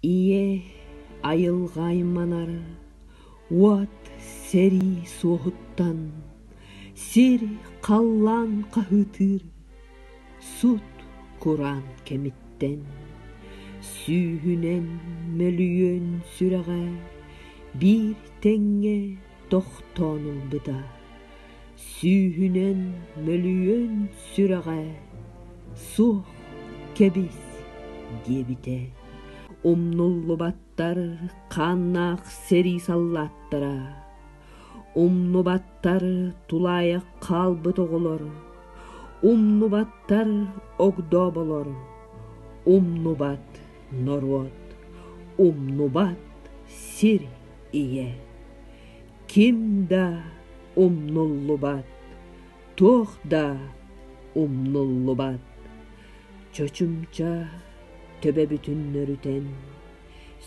ийэ айылҕа айманар уот сэрии суоһуттан сир халлаан хаһыытыыр сут кураан кэмиттэн сүүһүнэн мөлүйүөн сүрэҕэ биир тэҥҥэ тохтоон ылбыта Сүүһүнэн мөлүйүөн сүрэҕэ суох кэбис диэбитэ умнуллубаттар хааннаах сэрии саллааттара умнубаттар тулаайах хаалбыт оҕолор умнубаттар огдооболор умнубат норуот умнубат сир ийэ ким да умнуллубат, туох да умнуллубат. Чочумча төбө бүтүн нөрүтэн,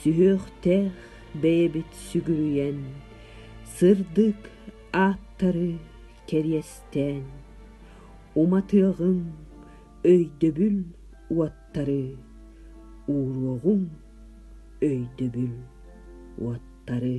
сүһүөхтээх бэйэбит сүгүрүйэн, сырдык ааттары кэриэстээн, уматыаҕыҥ өйдөбүл уоттары, ууруоҕуҥ өйдөбүл уоттары.